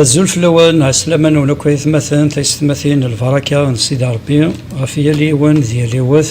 azul fell-awen ɛeslama nwen akk ayetmaten taysetmatin lbaraka n sidi rebbi ɣef yal yiwen d yal yiwet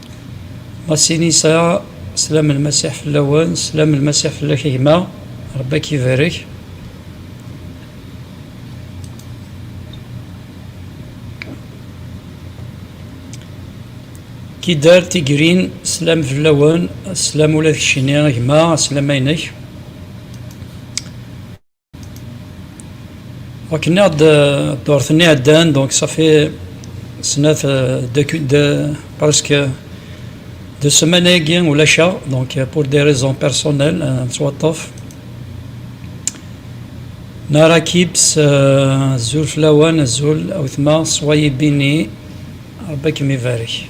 Masinisa, Slam n Lmasiḥ fell-awen, slam n Lmasiḥ fell-ak a gma, Rebbi ad k-ibarek. Kidar Tigrin, slam fell-awen, slam ula d keččini a gma, slam-a inek. Akken ad d-urten iɛeddan, donc ça fait snat de presque de semaine agi ulac-aɣ, donc pour des raisons personnelles nettwaṭṭef. Nara Kips, azul fell-awen, azul a wetma, soyez bénis, Rebbi ad kem-ibarek.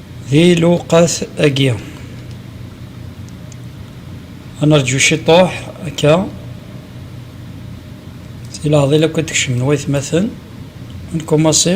Di lewqat agi. Ad nerǧu ciṭuḥ akka. Si leɛḍil akk ad d-kecmen waytmaten. Ad nkumassi.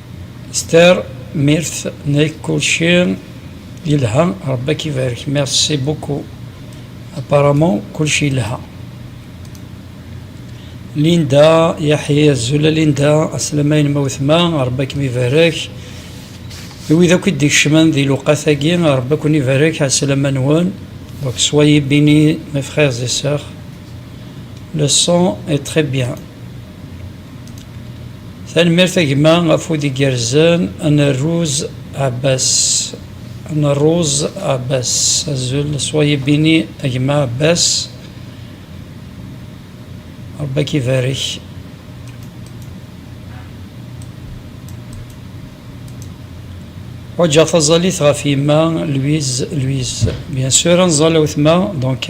S tar mirt nek kulci yelha Rebbi ak ibarek merci beaucoup apparemment kulci yelha Linda Yaḥi azul a Linda aslam ayen ma wetma Rebbi ak mibarek i wid akk i d-ikecmen di lewqat agi Rebbi akk nibarek aslam a nwen donc soyez bénis mes frères et sœurs le son est très bien Tanemmirt a gma afud igerrzen n rruz Abbas n rruz Abbas azul swayib bini a gma Abbas Rebbi ak ibarek Ḥwaǧeɣ taẓalit ɣef yemma Louise Louise bien sûr anẓal awetma donc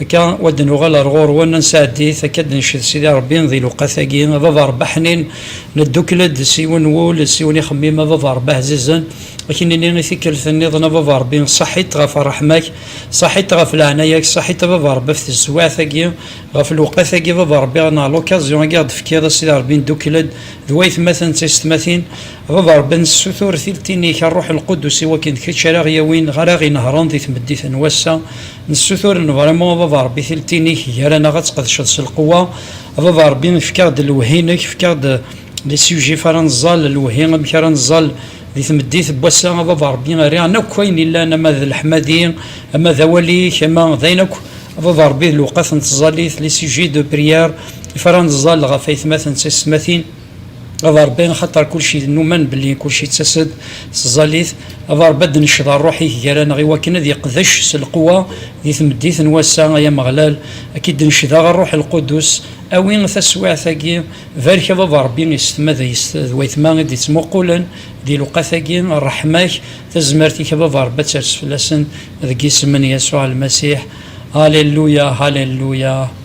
Akka, wa d-nuɣal ar ɣur-wen, ad nesɛeddit, akka d-nenced Sidi Ṛebbi di lewqat-agi, a baba Ṛebbi aḥnin, neddukel-d s yiwen n wul, s yiwen ixemmim, a baba Ṛebbi ɛzizen, a k-nini i tikkelt nniḍen, a baba Ṛebbi, saḥit ɣef ṛṛeḥma-k, saḥit ɣef leɛnaya-k, saḥit a baba Ṛebbi ɣef tezwaɛt-agi, ɣef lewqat-agi, a baba Ṛebbi, neɣ l'occasion-agi i ɣ-d-tefkiḍ, a Sidi Ṛebbi, neddukel-d d waytmaten d taysetmatin, a baba Ṛebbi, ad nessutur tiltin-ik, a Ṛṛuḥ Lqudus, iwakken d kečč ara ɣ-yawin, ara ɣ-inehṛen di tmeddit n wass-a, Nessutur levramu a baba Rebbi tiltinek gar-aneɣ ad tqedceḍ s lqewwa, a baba Rebbi efk-aɣ-d lewhi-nek, efk-aɣ-d les sujets ara neẓẓal, lewhi amek ara neẓẓal di tmeddit n wass-a, a baba Rebbi err aɣ-n akk ayen yellan ama d leḥmadi, ama d awal-ik, ama d ayen akk a baba Rebbi d lewqat n tẓallit, les sujets de prière, ifara neẓẓal ɣef aytmaten d taysetmatin. Aḍarbi, axaṭer kulci numan belli kulci yettas-d s tẓallit, aḍarbi ad d-necḍa rruḥ-ik gar-aneɣ iwakken ad iqdec s lqewwa di tmeddit n wass-a, ay Ameɣlal, ad k-id-necdeɣ rruḥ lqudus, awi taswiɛt-agi, barek ad aḍarbi isetma d d wayetma i d-ittmuqulen di lewqat-agi, rreḥma-k, tazmert-ik ad aḍarbi ad ters fell-asen, deg yisem n Yasuɛ Lmasiḥ, Halelluya! Halelluya!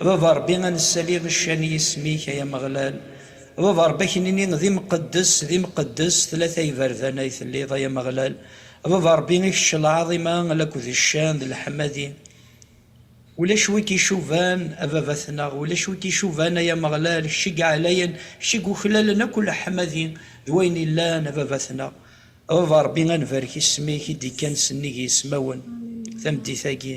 A Baba a Ṛebbi a nessali ccan i yisem-ik, ay Ameɣlal, a Baba a Ṛebbi a k-nini d imqeddes, d imqeddes, tlata iberdan ay telliḍ, ay Ameɣlal, a Baba a Ṛebbi i kečč lɛaḍima lakk d ccan d leḥmadi, ulac wi k-icuban a Babatneɣ, ulac wi k-icuban ay Ameɣlal, kečč i yeɛlayen, kečč i yuklalen akk leḥmadi d wayen yellan a Babatneɣ, a Baba a Ṛebbi a nbarek isem-ik i d-ikkan sennig yismawen tameddit-agi.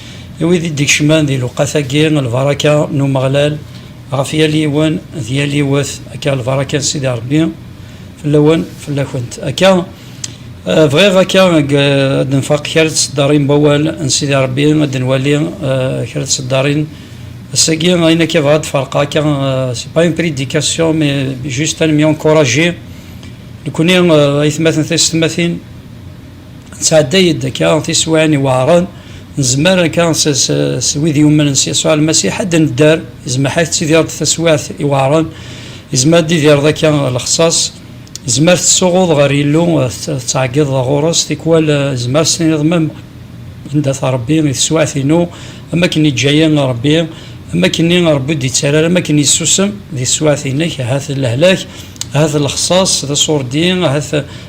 I wid i d-ikecmen di lewqat-agi, lbaraka n Umeɣlal ɣef yal yiwen d yal yiwet, akka lbaraka n Sidi Rebbi fell-awen, fell-akent. Akka, bɣiɣ akka deg ad d-nfaq kra n tseddarin n wawal n Sidi Rebbi, ad d-nwali kra n tseddarin. Ass-agi, ayen akka bɣiɣ ad d-ferqeɣ akka, c'est pas une prédication mais juste ad nemyuncourager nekkni aytmaten taysetmatin, Tettɛedday-d akka tiswiɛin iweɛṛen, nezmer akka s wid yumnen s Yasuɛ Lmasiḥ ad d-nedder, izmaḥ-ak tettidireḍ-d taswiɛt iweɛṛen, izmer ad d-tidireḍ akka lexṣaṣ, izmer tettsuɣuḍ ɣer Yillu, tettɛeggiḍeḍ ɣur-s, tikwal izmer s-tiniḍ mem anda t Ṛebbi i teswiɛt-inu, am akken yeǧǧa-yi Ṛebbi, am akken-nni Ṛebbi ur d-yettarra ara, am akken yessusem di teswiɛt-inek, ahat d lehlak, ahat d lexṣaṣ, d aṣurdi, ahat.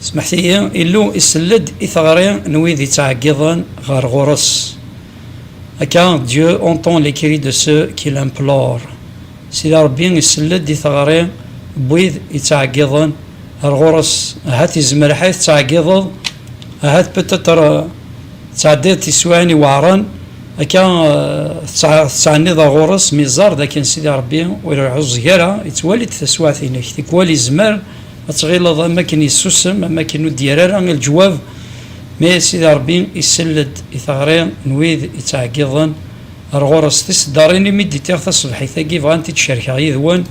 Smeḥtiyi, Illu isell-d i teɣri n wid yettɛeggiḍen ɣer ɣur-s, akka, Dieu entend les cris de ceux qui l'implorent, Sidi Ṛebbi isell-d i teɣri n wid yettɛeggiḍen ɣer ɣur-s, ahat yezmer ḥay tettɛeggiḍeḍ, ahat peut-être tettɛeddiḍ tiswiɛin iweɛṛen, akka, tettɛenniḍ ɣer ɣur-s, mi iẓẓar dakken Sidi Ṛebbi ur iɛuẓẓeg ara, yettwali-d taswiɛt-inek, tikwal yezmer. ad tɣileḍ am akken yessusem, am akken ur d-yerri ara i leǧwab, mi Sidi Ṛebbi isell-d i teɣri n wid yettɛeggiḍen ar ɣur-s. Tiseddaṛin i mi d-itiɣ tasebḥit-agi bɣan ti d-cerkeɣ yid-wen,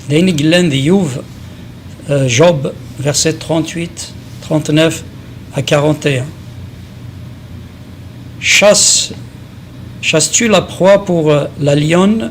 d ayen i yellan di Youb, Job, versets 38, 39 à 41. Chasse, chasses-tu la proie pour la lionne?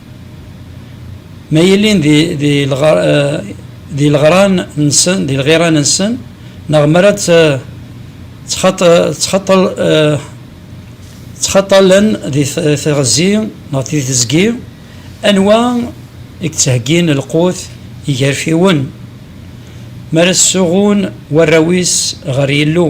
Ma yilin di lɣiran-nsen, di lɣiran-nsen, neɣ mi ara ttxaṭalen di teɣzi neɣ di tezgi, anwa i yettheggin lqut i yigerfiwen, mi ara ssuɣun warraw-is ɣer Yillu?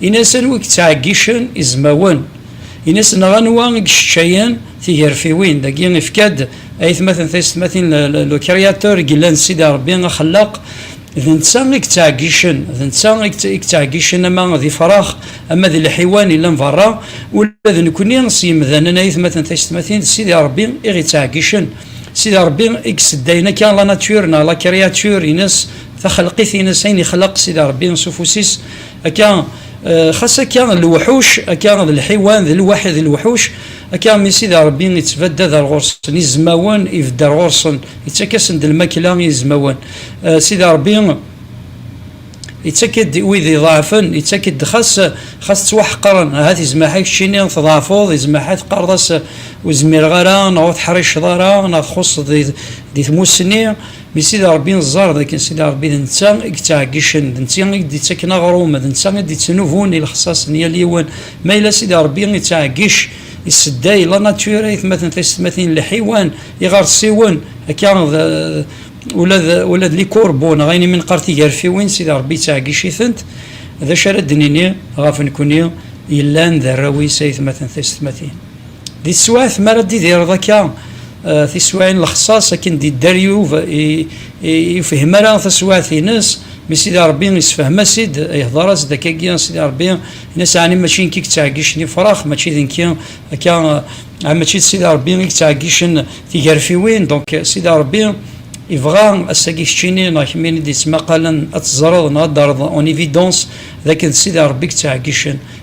Ini-as anwa i yettɛeggicen izmawen. Ini-as neɣ anwa i yesseččayen tigerfiwin. Dagi ifka-d ayetmaten taysetmatin le créateur i yellan Sidi Rebbi axellaq d netta i yettɛeggicen d netta i yettɛeggicen ama d ifrax ama d lḥiwan yellan berra. Ula d nekkni s yemdanen ayetmaten taysetmatin d Sidi Rebbi i ɣ-yettɛeggicen. Sidi Rebbi i yesseddayen akka la nature neɣ la créature ines, taxelqit-ines, ayen yexleq Sidi Rebbi s ufus-is. Akka, xas akka lewḥuc, akka d lḥiwan, d lwaḥi d lewḥuc, akka mi Sidi Ṛebbi ittbadad ar ɣur-sen izmawen, ibedd ar ɣur-sen, ittak-asen-d lmakla i yizmawen. Sidi Ṛebbi ittak-id i wid iḍeɛfen, ittak-id xas xas ttwaḥeqren, ahat izmaḥ-a keččini tḍeɛfeḍ, izmaḥ-a teqqareḍ-as ur zmireɣ ara, neɣ ur teḥriceḍ ara, neɣ txuṣṣeḍ di tmussni, Mi Sidi Ṛebbi neẓẓar d akken Sidi Ṛebbi d netta i yettɛeggicen, d netta i d-ittaken aɣrum, d netta i d-ittnubun i lexṣaṣ n yal yiwen. Ma yella Sidi Ṛebbi ittɛeggic, isedday, la nature, aytmaten, taysetmatin, lḥiwan, iɣersiwen, akka d ula d ula d likurbu neɣ ayen imi neqqar tigarfiwin, Sidi Ṛebbi yettɛeggic-itent. D acu ara d-nini ɣef nekkni yellan d arraw-is, aytmaten, taysetmatin? Di teswiɛt mi ara d-idireḍ akka tiswiɛin lexṣaṣ akken d-idder Yub yefhem ara taswiɛt-ines mi Sidi Rebbi isefhem-as-id, ihdeṛ-as-d akkagi Sidi Rebbi in-as ɛni mačči nekk i yettɛeggicen ifrax mačči d nekki akka ɛni mačči d Sidi Rebbi i yettɛeggicen tigarfiwin donc Sidi Rebbi ibɣa ass-agi keččini neɣ kemmini d-yettmaqalen ad teẓreḍ neɣ ad d-terreḍ en évidence d akken d Sidi Rebbi i yettɛeggicen.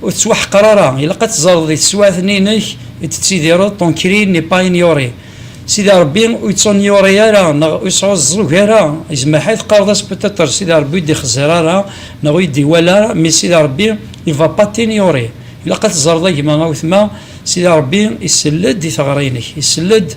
Ur tettwaḥqer ara, ilaq ad teẓreḍ di teswiɛt-nni-inek i d-tettidireḍ, ton cri n'est pas ignoré. Sidi Rebbi ur yettuniore ara neɣ ur yesɛuẓẓug ara, izmaḥay teqqareḍ-as peut-être Sidi Rebbi ur d-ixeẓẓir ara neɣ ur d-iwala ara, mais Sidi Rebbi il va pas t'ignorer. Ilaq ad teẓreḍ a gma, a wetma, Sidi Rebbi isell-d i teɣri-inek, isell-d.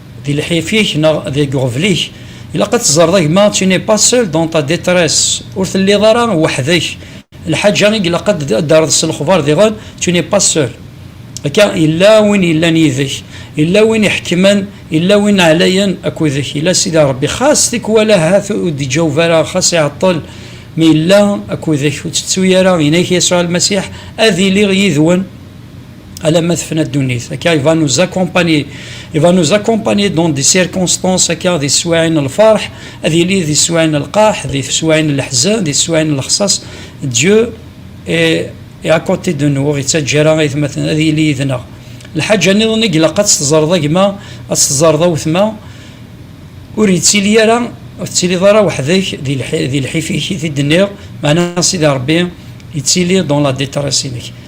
Di lḥif-ik neɣ deg uɣbel-ik, ilaq ad teẓreḍ a gma tu n'es pas seul dans ta detresse, ur telliḍ ara weḥd-k, lḥaǧa i ilaq ad d-terreḍ s lexbar diɣen, tu n'es pas seul. Akka, yella win yellan yid-k, yella win iḥekkmen, yella win ɛlayen akked-k, yella Sidi Rebbi, xas tikwal ahat ur d-iǧaweb ara, xas iɛeṭṭel, mi yella akked-k, ur ttettu ara, yenna-ak Yasuɛ Lmasiḥ, ad iliɣ yid-wen. alamma tefna ddunit akka il va nous accompagner il va nous accompagner dans des circonstances akka di teswaɛin n lferḥ ad yili di teswaɛin n lqaḥ di teswaɛin n leḥzen di teswaɛin n lexṣaṣ Dieu est à côté de nous ur yettaǧǧa ara aytmaten ad yili yid-neɣ lḥaǧa niḍen i ilaq ad teẓreḍ a gma ad teẓreḍ a wetma ur yettili ara ur tettiliḍ ara weḥd-k di lḥif-ik i t-id-nniɣ meɛna Sidi Ṛebbi yettili dans la détresse-inek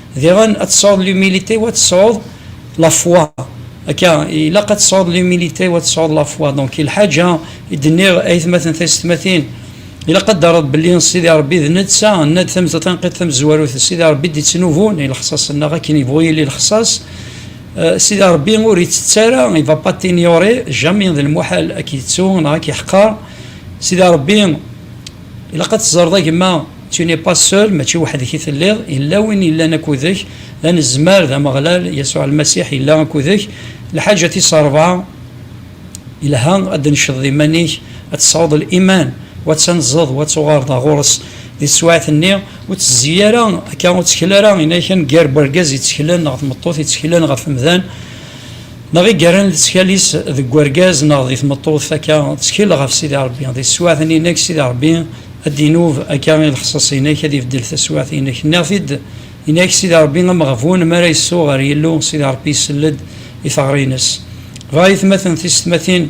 Diɣen, ad tesɛuḍ l'humilité u ad tesɛuḍ la foi. Akka, ilaq ad tesɛuḍ l'humilité u ad tesɛuḍ la foi. Donc, i lḥaǧa i d-nniɣ, ayetmaten, taysetmatin, ilaq ad d-terreḍ belli Sidi Ṛebbi d netta, nna-d tamezla tanqiḍt tamezwarut, d Sidi Ṛebbi i d-ittnubun i lexṣaṣ-nneɣ akken yebɣu yili lexṣaṣ. Sidi Ṛebbi ur ittett ara, il va pas t'ignorer jamais, d lmuḥal ad k-yettu neɣ ad k-yeḥqer. Sidi Ṛebbi. Ilaq ad teẓreḍ a gma, tu n'es pas seul, mačči weḥd-k i telliḍ, yella win yellan akkudek, d anezmar, d Ameɣlal, Yasuɛ Lmasiḥ yella akkudek. Lḥaǧa tis ṛebɛa, yelha ad d-tnecceḍeḍ iman-ik, ad tesɛuḍ liman, u ad tanzeḍ, u ad tuɣaleḍ ɣer ɣur-s di teswiɛt-nni. Ur ttezzi ara akka, ur ttkel ara, yenna-ak-n gar wergaz ittteklen neɣ tmeṭṭut ittteklen ɣef umdan, Neɣ i yerran leţkal-is deg urgaz neɣ di tmeṭṭut, akka ţkil ɣef Sidi Ṛebbi, di teswiɛt-nni-inek, Sidi Ṛebbi a d-inub akka i lexṣaṣ-inek, ad ibeddel taswiɛt-inek. Nniɣ-t-id i nek, Sidi Ṛebbi ameɣbun mi ara yessu ɣer Yillu, Sidi Ṛebbi isell-ed i teɣri-ines. Dɣa ayetmaten tisetmatin.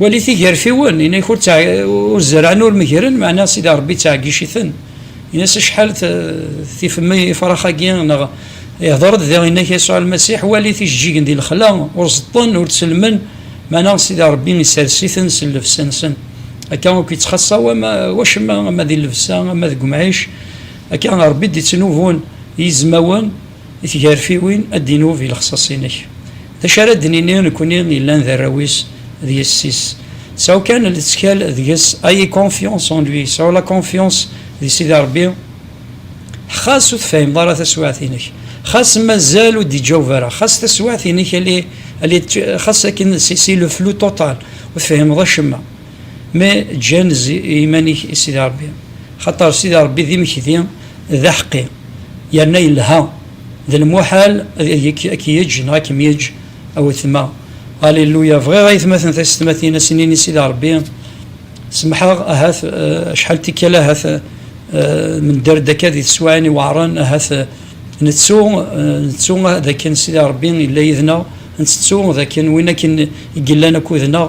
Walit igerfiwen, inak ur ur zerɛen ur megren, meɛna Sidi Ṛebbi ittɛeggiciten, inas acḥal tifem ifrax-agi neɣ ihdeṛ-d diɣ inak Yasuɛ Lmasiḥ, walit ijeǧǧigen di lexla, ur ẓeṭṭen, ur ttellmen, meɛna Sidi Ṛebbi isers-iten s llebsa-nsen. Akka akk ittxaṣṣa wacemma ama di llebsa ama deg umɛic, akka Ṛebbi i d-ittnubun yizmawen, I tgarfiwin ad d-inub i lexṣaṣ-inek. D acu ara d-nini nekkni yellan d arraw-is d yessi-s? Sɛu kan lettkal deg-s, ayez confiance en lui, sɛu la confiance di Sidi Rebbi, xas ur tefhimeḍ ara taswiɛt-inek, xas mazal ur d-iǧaweb ara, xas taswiɛt-inek elle est, elle est, xas akken c'est le flou total, ur tefhimeḍ acemma, mais ǧǧan-z i yiman-ik i Sidi Rebbi, xaṭer Sidi Rebbi d imekdi, D aḥeqqi, yerna yelha, d lmuḥal ad k-yeǧǧ neɣ ad kem-yeǧǧ a wetma. Alléluia! Bɣiɣ aytmaten taysetmatin a s-nini i Sidi Rebbi, Semḥeɣ, ahat acḥal n tikkal ahat nedder-d akka di teswiɛin iweɛṛen, ahat nettu, nettu dakken Sidi Rebbi yella yid-neɣ, ntettu dakken win akken i yellan akkud-neɣ,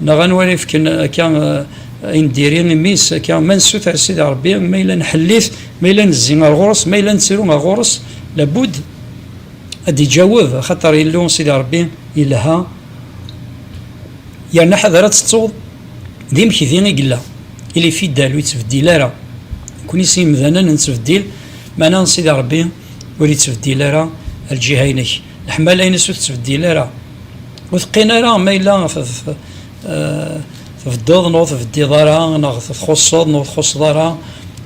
Neɣ anwa ara ifken akka ayen d-iri imi-s akka ma nessuter Sidi Ṛebbi, ma yella nḥelli-t, ma yella nezzi ar ɣur-s, ma yella nettru ar ɣur-s, labud ad d-iǧaweb, axaṭer Illu Sidi Ṛebbi yelha, yerna ḥader ad tettuḍ d imekdi i yella, il est fidèle, ur yettbeddil ara, nekkni s yemdanen nettbeddil, meɛna Sidi Ṛebbi ur yettbeddil ara lǧiha-inek, leḥmala-ines ur tettbeddil ara. ur teqqin ara ma yella eh, tbeddeḍ neɣ ur tbeddiḍ ara neɣ txuṣṣeḍ neɣ ur txuṣṣeḍ ara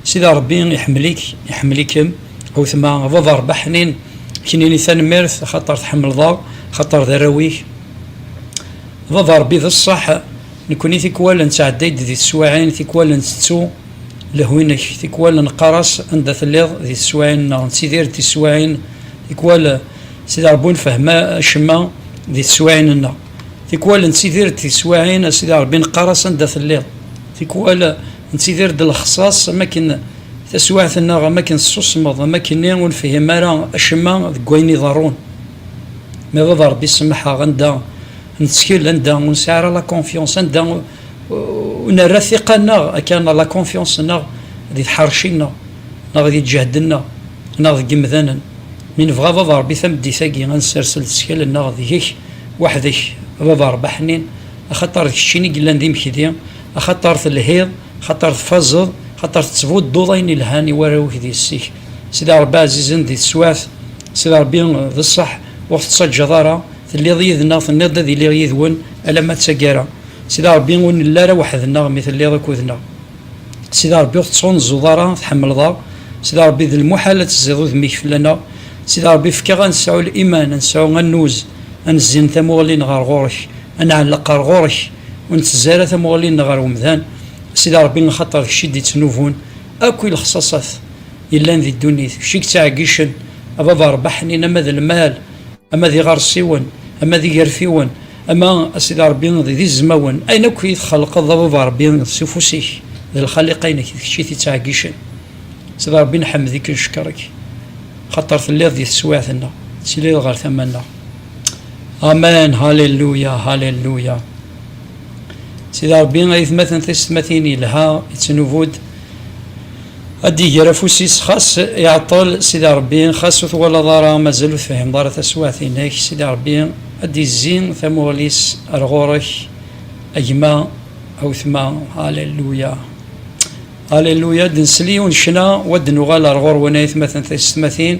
sida rebbi iḥemmel-ik iḥemmel-ikem awtma baba rebbi ḥnin knini tanemmirt xaṭer tḥemmleḍ-aɣ xaṭer d arraw-ik baba rebbi d ṣṣeḥ nekkni tikwal nettɛedday-d di teswiɛin tikwal ntettu lehwi-nnek tikwal neqqar-as anda telliḍ di teswiɛin neɣ nettidir di teswiɛin tikwal Sidi Ṛebbi ur nfehhem acemma di teswiɛin-nneɣ. Tikwal nettidir-d tiswiɛin a Sidi Ṛebbi neqqar-as anda telliḍ. Tikwal nettidir-d lexṣaṣ am akken taswiɛt-nneɣ am akken tessusmeḍ am akkenni ur nfehhem ara acemma deg wayen iḍerrun. Ma baba Ṛebbi semmeḥ-aɣ anda nettkel, anda ur nesɛi ara la confiance, anda ur nerra ttiqa-nneɣ akka neɣ la confiance-nneɣ di tḥerci-nneɣ neɣ di lǧehd-nneɣ neɣ deg yemdanen. Mi nebɣa, a Baba Ṛebbi, tameddit-agi ad nsers leskal-nneɣ deg-k weḥd-k, a Baba Ṛebbi aḥnin, axaṭer d keččin i yellan d imekdi, axaṭer telhiḍ, axaṭer tfazeḍ, axaṭer tettbudduḍ ayen ilhan i warraw-ik d yessi-k, Sidi Ṛebbi ɛzizen di teswaɛt, Sidi Ṛebbi, d ṣṣeḥ, ur ɣ-tettaǧǧaḍ ara, telliḍ yid-nneɣ, tenniḍ-d ad iliɣ yid-wen alamma d taggara, Sidi Ṛebbi, ur nelli ara weḥd-nneɣ mi telliḍ akked-nneɣ. Sidi Ṛebbi ur tettɣunzuḍ ara, tḥemmleḍ aɣ, Sidi Ṛebbi d lmuḥal ad tezziḍ udem-ik fell-aneɣ, Sidi Ṛebbi efk-aɣ ad nesɛu liman, ad nesɛu annuz, ad nezzin tamuɣli-nneɣ ɣer ɣur-k, ad nɛelleq ɣer ɣur-k, ur nettezzi ara tamuɣli-nneɣ ɣer umdan, Sidi Ṛebbi axaṭer kečč i d-ittnubun akk i lexṣaṣat yellan di ddunit, kečč i yettɛeggicen, a Baba Ṛebbi ḥnin ama d lmal, ama d iɣersiwen ama d igerfiwen ama a sidi rebbi d izmawen ayen akk i txelqeḍ a baba rebbi s ufus-ik d lxaliqa-inek d kečč i t-ittɛeggicen sidi rebbi nḥemmed-ik neckeṛ-ik xaṭer telliḍ di teswiɛt-nneɣ tettiliḍ ɣer tama-nneɣ amen haleluya haleluya sidi rebbi ayetmaten tisetmatin yelha ittnubu-d Ad d-iger afus-is xas iɛeṭṭel, Sidi Ṛebbi, xas ur twalaḍ ara, mazal ur tefhimeḍ ara taswiɛt-inek, Sidi Ṛebbi ad d-izzi tamuɣli-s ar ɣur-ek, a gma, a wetma, Alelluya! Alelluya! Ad d-nsel yiwen ccna, wa d-nuɣal ar ɣur-wen ayetmaten taysetmatin,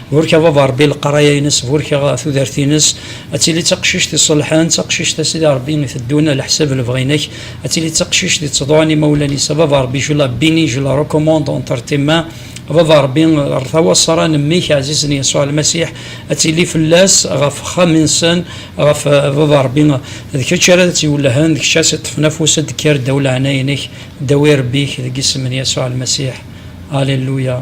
Burek a baba Rebbi leqraya-ines, burek a tudert-ines, ad tili d taqcict iṣelḥen, d taqcict a Sidi Rebbi iteddun a leḥsab lebɣi-inek, ad tili d taqcict yettḍuɛen imawlan-is, a baba Rebbi je la bénis, je la recommande entre tes mains, a baba Rebbi ɣer tawaṣṣara n mmi-k ɛzizen Yasuɛ Lmasiḥ, ad tili fell-as ɣef wexxam-nsen, ɣef a baba Rebbi, d kečč ara ad tt-iwellhen, d kečč ara s-iṭṭfen afus, ad d-kker ddaw leɛnaya-inek, ddaw irebbi-k, deg isem n Yasuɛ Lmasiḥ, Alléluia.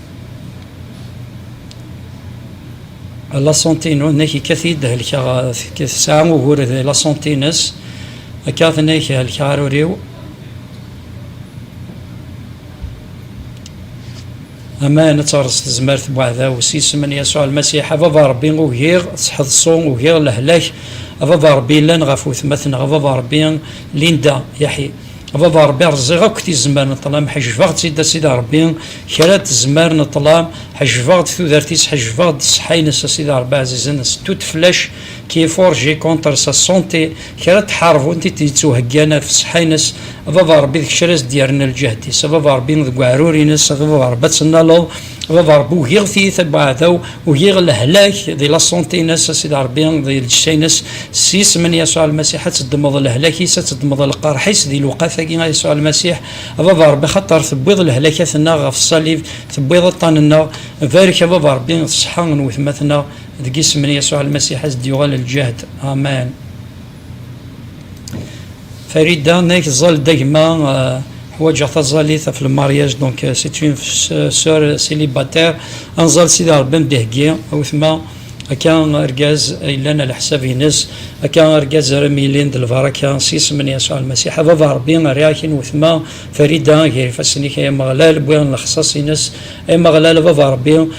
Laṣunti-inu, nnek ikkat-iyi-d helkeɣ, tesɛa ugur d laṣunti-ines, akka tennek helkeɣ arur-iw. Aman ad terẓ tezmert n uɛdaw s yisem n Yasuɛ Lmasiḥ. A Baba Ṛebbi, ugiɣ tḥeḍṣu, ugiɣ lehlak. A Baba Ṛebbi, llan ɣef wetma-tneɣ, a Baba Ṛebbi, Linda, Yaḥi. A baba ṛebbi rẓiɣ akk tizemmar n ṭṭlam ḥejbeɣ-tt-id a sidi ṛebbi kra n tezmar n ṭṭlam ḥejbeɣ-d tudert-is ḥejbeɣ-d ṣṣeḥḥa-ines a sidi ṛebbi ɛzizen s toute flèche qui est forgée contre sa santé kra n tḥaṛbunt i d-yettuheggan ɣef ṣṣeḥḥa-ines a baba ṛebbi d kečč ara as-d-yerren lǧehd-is a baba ṛebbi deg uɛrur-ines a baba ṛebbi ad tennaleḍ Baba Rebbi ugiɣ tiyita n uɛdaw, ugiɣ lehlak di la santé-ines, a Sidi Rebbi, di lǧetta-ines, s yisem n Yasuɛ Lmasiḥ, ad teddmeḍ lehlak-is, ad teddmeḍ lqerḥ-is di lewqat-agi, a Yasuɛ Lmasiḥ, a Baba Rebbi, xaṭer tewwiḍ lehlakat-nneɣ ɣef ṣṣalib, tewwiḍ aṭṭan-nneɣ, barek a Baba Rebbi ṣṣeḥḥa n wetma-tneɣ, deg yisem n Yasuɛ Lmasiḥ, a s-d-yuɣal lǧehd. Amen. Farida n Ayt Ẓẓal-d a gma, ḥwaǧeɣ taẓalit ɣef lemariaj, donc c'est une sœur célibataire, anẓal Sidi Ṛebbi am-d-iheggi, a wetma, akka argaz yellan a leḥsab-ines, akka argaz ara m-yilin d lbaraka, s yisem n Yasuɛ Lmasiḥ, a Baba Ṛebbi, rriɣ-ak i wetma Farida gar ifassen-ik, ay Ameɣlal, wwiɣ lexṣaṣ-ines, ay Ameɣlal, a Baba Ṛebbi,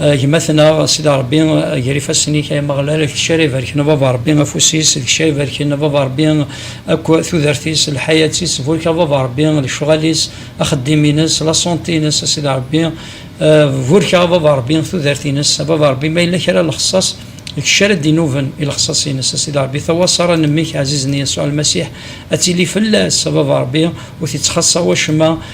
Gma-tneɣ, a Sidi Ṛebbi, ger ifassen-ik, ay Ameɣlal, deg cci ara ibarken Baba Ṛebbi afus-is, deg cci ara ibarken Baba Ṛebbi akk tudert-is, lḥayat-is, burek-aɣ Baba Ṛebbi lecɣal-is, axeddim-ines, laṣunṭi-ines, a Sidi Ṛebbi, burek-aɣ Baba Ṛebbi tudert-ines, a Baba Ṛebbi ma yella kra lexṣaṣ deg cci ara d-inuben i lexṣaṣ-ines, a Sidi Ṛebbi tawaṣa ara nemmek Ɛzizen Yasuɛ Lmasiḥ ad tili fell-as, a Baba Ṛebbi, ur t-ittxaṣṣa wacemma,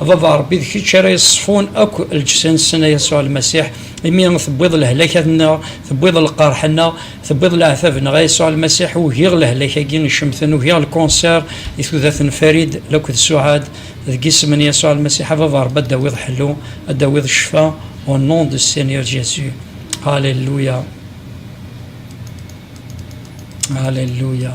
A Baba Ṛebbi, d kečč ara iṣfun akk lǧsa-nsen, a Yasuɛ Lmasiḥ, imi tewwiḍ lehlak-a-nneɣ, tewwiḍ lqerḥ-nneɣ, tewwiḍ leɛtab-nneɣ, a Yasuɛ Lmasiḥ, ugiɣ lehlak-agi icemten, ugiɣ lkunṣir i tudert n Farid laked Suɛad, deg isem n Yasuɛ Lmasiḥ, a Baba Ṛebbi, ad d-tawiḍ ḥellu, ad d-tawiḍ ccfa, au nom de Seigneur Jésus. Alléluia. Alléluia.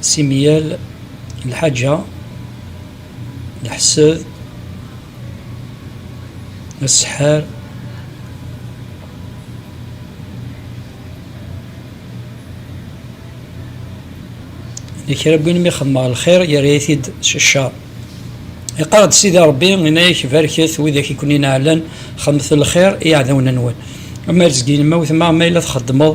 Simyal lḥaǧa, leḥseb, aseḥḥar, d kra n win mi xedmeɣ lxir yerra-yi-t-id s ccer. Iqqar-d Sidi Ṛebbi, yenna-ak, Barket widak i ken-ineɛɛlen, xedmet lxir i yiɛdawen-nwen. Amer zgin ma wetma ma yella txeddmeḍ,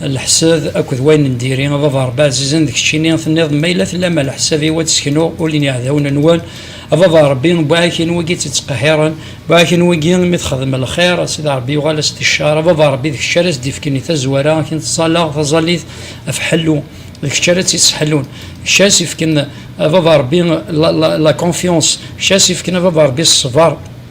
Leḥsab akked wayen n diri, a baba Rebbi ɛzizen d keččini tenniḍ ma yella tellam a leḥsab-iw ad d-seknuɣ ul n yiɛdawen-nwen, a baba Rebbi buɛak n wigi tt-ittqehhiren, buɛak n wigi imi texdem lxir a sidi Rebbi yuɣal-as d ccer, a baba Rebbi d kečč ara s-d-ifken i tazwara akken tettẓallaɣ taẓallit af ḥellu, d kečč ara tt-ittḥellun, d kečč ara s-ifken a baba Rebbi la confiance, d kečč ara s-ifken a baba Rebbi ṣṣber.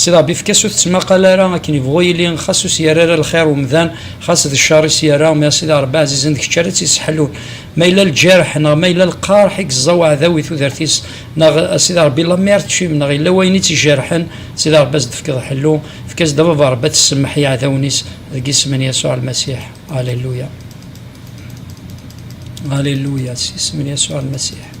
Sidi Rebbi efk-as ur tettmaqal ara akken yebɣu yili, xas ur s-yerra ara lxir umdan, xas d ccer i s-yerra, mi a Sidi Rebbi ɛzizen d kečč ara tt-yesseḥlun. Ma yella lǧirḥ neɣ ma yella lqerḥ i yeẓẓa weɛdaw i tudert-is, neɣ a Sidi Rebbi la mer teččim neɣ yella wayen i tt-ijerḥen, Sidi Rebbi a s-d-tefkeḍ ḥellu, efk-as-d a Baba Rebbi ad tessemmeḥ i yeɛdawen-is, deg isem n Yasuɛ Lmasiḥ. Aleluya! Aleluya! S yisem n Yasuɛ Lmasiḥ.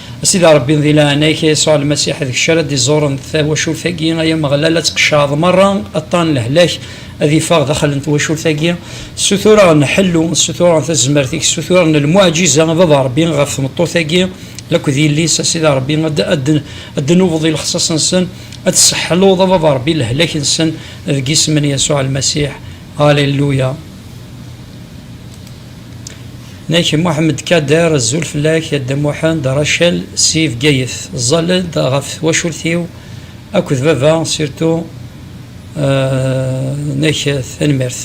A Sidi Ṛebbi, di leɛnaya-k, a Yasuɛ Lmasiḥ, d kečč ara d-iẓuren tawacult-agi, ay Ameɣlal, ad tqeccɛeḍ meṛṛa aṭṭan n lehlak, ad iffeɣ daxel n twacult-agi. Ssutureɣ-n ḥellu, ssutureɣ-n tazmert-ik, ssutureɣ-n lmuɛǧiza, a Baba Ṛebbi, ɣef tmeṭṭut-agi akked yelli-s, a Sidi Ṛebbi, ad d-tnubeḍ i lexṣaṣ-nsen, ad d-tesseḥluḍ, a Baba Ṛebbi, lehlak-nsen, deg yisem n Yasuɛ Lmasiḥ, alléluia. Nek Mohamed Kader, zul fell-ak a Dda Muḥend, Rachel si Bgayet, ẓẓal-d ɣef twacult-iw akked baba sirtu nek tanemmirt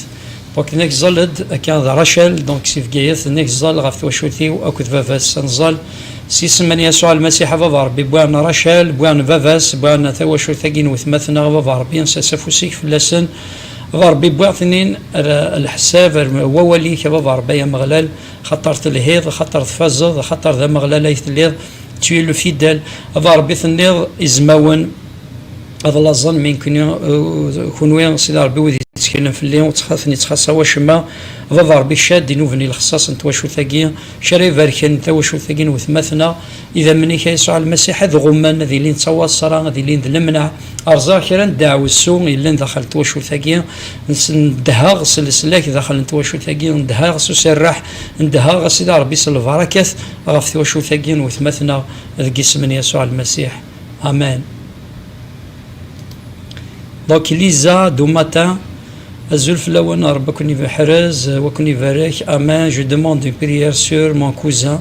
donc nek ẓẓal-d akka d Rachel donc si Bgayet nek ẓẓal ɣef twacult-iw akked baba-s ad nẓẓal s isem n Yasuɛ Lmasiḥ a Baba Ṛebbi bwan Rachel bwan baba-s bwan tawacult-agi n wetmaten-a a Baba Ṛebbi nsers afus-ik fell-asen A Ṛebbi, wwiɣ-ten-in ar leḥsab, ar wawal-ik, a Baba Ṛebbi ay Ameɣlal, axaṭer telhiḍ, axaṭer tfazeḍ, axaṭer d Ameɣlal ay telliḍ, tu es le fidèle, a Baba Ṛebbi, tenniḍ, Izmawen ad laẓen mi nekkni, kenwi, a Sidi Ṛebbi, wid yetteklen fell-i, ur ten-ittxaṣṣa wacemma, a Baba Ṛebbi, kečč ara d-inuben i lexṣaṣ n twacult-agi, kečč ara ibarken tawacult-agi n wetmaten-a, Idammen-ik, a Yesɛu Lmasiḥ, ad ɣummen, ad ilin d tawaṣra, ad ilin d lemneɛ. Rẓeɣ kra n deɛwessu yellan daxel n twacult-agi, ndehheɣ s leslak daxel n twacult-agi, ndehheɣ s userreḥ, ndehheɣ, a Sidi Ṛebbi, s lbaṛakat ɣef twacult-agi n wetma-tneɣ, deg isem n Yasuɛ Lmasiḥ, amen. Donc, Lisa Dumatin, Azul fell-awen, Ṛebbi ad ken-iḥrez, ad ken-ibarek, amen. Je demande une prière sur mon cousin.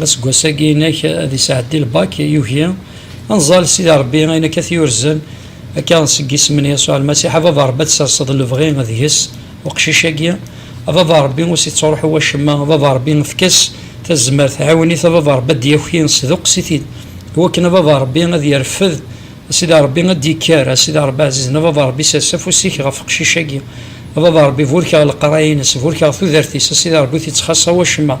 Aseggas-agi inek ad isɛeddi lbak, yugi anẓal Sidi Rebbi ayen akka t-yurzen akka seg yisem n Yasuɛ Lmasiḥ, a Baba Rebbi ad tserseḍ lebɣi deg-s uqcic-agi, a Baba Rebbi ur s-ittruḥu wacemma, a Baba Rebbi efk-as tazmert, ɛiwen-it a Baba Rebbi ad d-yaki, sduqqes-it-id i wakken a Baba Rebbi ad yerfed, a Sidi Rebbi ad d-yekker, a Sidi Rebbi ɛzizen, a Baba Rebbi sers afus-ik ɣef uqcic-agi, a Baba Rebbi burkeɣ leqraya-ines, burkeɣ tudert-is, a Sidi Rebbi ur t-ittxaṣṣa wacemma,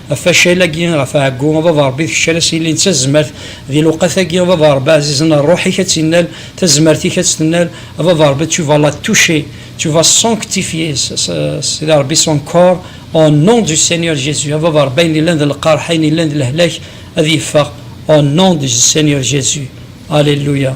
Facal-agi ɣef ɛeggu, a baba Ṛebbi kečč ara s-yillin d tazmert di lewqat-agi, a baba Ṛebbi ɛzizen a ṛṛuḥ-ik ad tt-innal, tazmert-ik ad tt-tennal, a baba Ṛebbi tu vas la toucher, tu vas sanctifier Sidi Ṛebbi son corps au nom du Seigneur Jésus, a baba Ṛebbi ayen yellan d lqerḥ, ayen yellan d lehlak ad yeffeɣ au nom du Seigneur Jésus. Alléluia.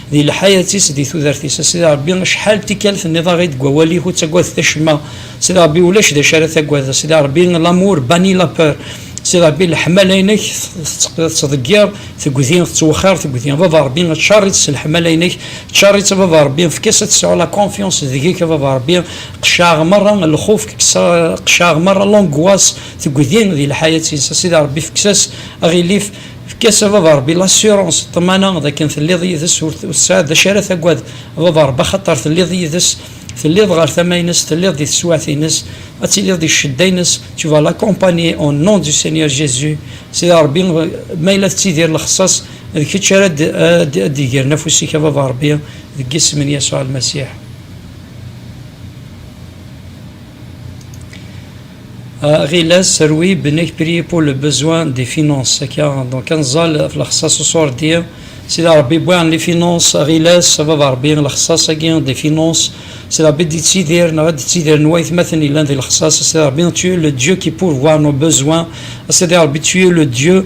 Di lḥayat-is, di tudert-is. A Sidi Ṛebbi, acḥal n tikkal tenniḍ aɣ i-d deg wawal-ik, ur ttagadet acemma. A Sidi Ṛebbi, ulac d acu ara tagad. A Sidi Ṛebbi, l'amour bannit la peur. A Sidi Ṛebbi, leḥmala-inek tettḍeggir tegdi, tettwexxir tegdi. A Baba Ṛebbi, ččar-itt s leḥmala-inek, ččar-itt a Baba Ṛebbi, efk-as ad tesɛu la confiance deg-k a Baba Ṛebbi, qceɛ merra lxuf, qceɛ merra l'angoisse tegdi di lḥayat-is. A Sidi Ṛebbi, efk-as aɣilif. Efk-as a baba Rebbi l'assurance, ṭṭmana, d akken telliḍ yid-s, ur tesɛiḍ d acu ara taggad a baba Rebbi axaṭer telliḍ yid-s, telliḍ ɣer tama-ines, telliḍ di teswiɛt-ines, ad tiliḍ di ccedda-ines, tu vas l'accompagner au nom du Seigneur Jésus, Sidi Rebbi ma yella tettidir lexṣaṣ, d kečč ara d-igren afus-ik a baba Rebbi, deg isem n Yasuɛ Lmasiḥ. Aɣilas, serwi, benek prier pour le besoin des finances, akka, donc ad nẓal ɣef lexsas uṣurdi, Sidi Ṛebbi wwiɛen les finances, aɣilas, a baba Ṛebbi, lexsas-agi des finances, Sidi Ṛebbi ad d-ittidir, neɣ ad d-ittidir n waytmaten yellan di lexsas, a Sidi Ṛebbi, tu es le Dieu qui pourvoit nos besoins, a Sidi Ṛebbi, tu es le Dieu,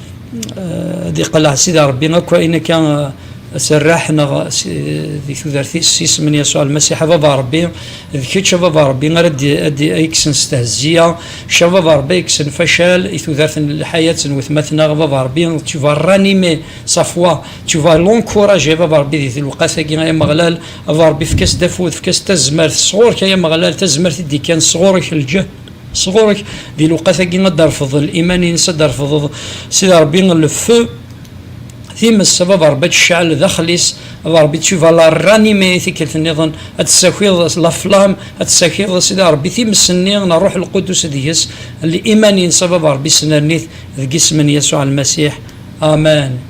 ad iqelleɛ sidi rebbi akk ayen akka serraḥ neɣ di tudert-is s isem n yasuɛ lmasiḥ a baba rebbi d kečč a baba rebbi ara d-ikksen s tehziya kečč a baba rebbi ikksen facal i tudert n lḥayat n wetmaten-a a baba rebbi tu vas ranimer sa foi tu vas l'encourager a baba rebbi di lewqat-agi ay ameɣlal a baba rebbi efk-as-d afud efk-as-d tazmert sɣur-k ay ameɣlal tazmert i d-ikkan sɣur-k lǧehd sɣur-k di lewqat-agi ad d-terfeḍ iman-ines, ad d-terfeḍeḍ Sidi Ṛebbi le feu, times, ad d-Ṛebbi ad tecɛel daxel-is, ad d-Ṛebbi tu vas la ranimer tikkelt nniḍen, ad d-tessakiḍ la flamme, ad d-tessakiḍ Sidi Ṛebbi times-nni n Ṛṛuḥ Lqudus deg-s, le iman-ines a Baba Ṛebbi snerni-t deg isem n Yasuɛ Lmasiḥ, amen.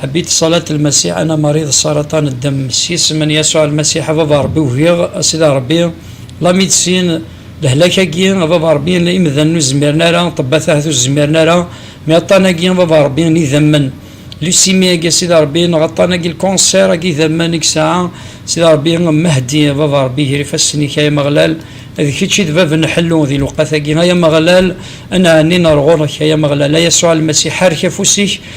Ḥbit ṣalat lmasiḥ ana mariḍ saraṭan ddem s yisem n yasuɛ lmasiḥ a baba ṛebbi ugiɣ a sida ṛebbi la midisin lehlak agi a baba ṛebbi la imdanen ur zmiren ara ṭebbat ahat ur zmiren ara mi aṭan agi a baba ṛebbi n idammen lusimi agi a sida ṛebbi neɣ aṭan agi lkunsir agi idammen i yesɛa sida ṛebbi mahdi a baba ṛebbi ger ifassen-ik ay amaɣlal d kečč i d bab n ḥellu di lewqat agi ay amaɣlal a nɛenni nar ɣur-k ay amaɣlal a yasuɛ lmasiḥ ḥerrek afus-ik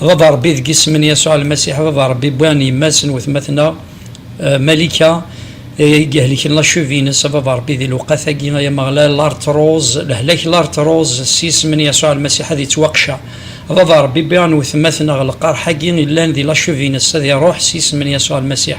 Baba Rebbi deg isem n Yasuɛ Lmasiḥ, Baba Rebbi, wwi n yemma-s, n wetma-tneɣ Malika, ay ihelken lacuv-ines, a Baba Rebbi, di lewqat-agi, ay Ameɣlal, lartruz, lehlak, lartruz, s yisem n Yasuɛ Lmasiḥ, ad ittwaqceɛ. A Baba Rebbi, wwi n wetma-tneɣ lqerḥ-agi yellan di lacuv-ines, ad iruḥ s yisem n Yasuɛ Lmasiḥ.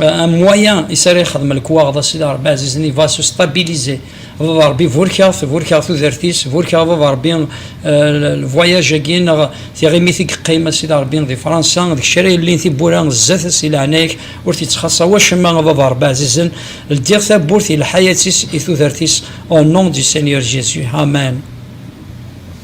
Euh, un moyen i sari xedm lekwaɣeḍ a sidi rebbi azizen i va se stabiliser baba rebbi burkeɣ-t burkeɣ tudert-is burkeɣ baba rebbi euh, lvoyage-agi neɣ tiɣimit i yeqqim a sidi rebbi di fransa d kečč ara yellin tiwwura zdat si leɛnaya-k ur t-yettxaṣṣa wacemma a baba rebbi azizen ldiɣ tawwurt i lḥayat-is i tudert-is au nom du Seigneur Jésus amen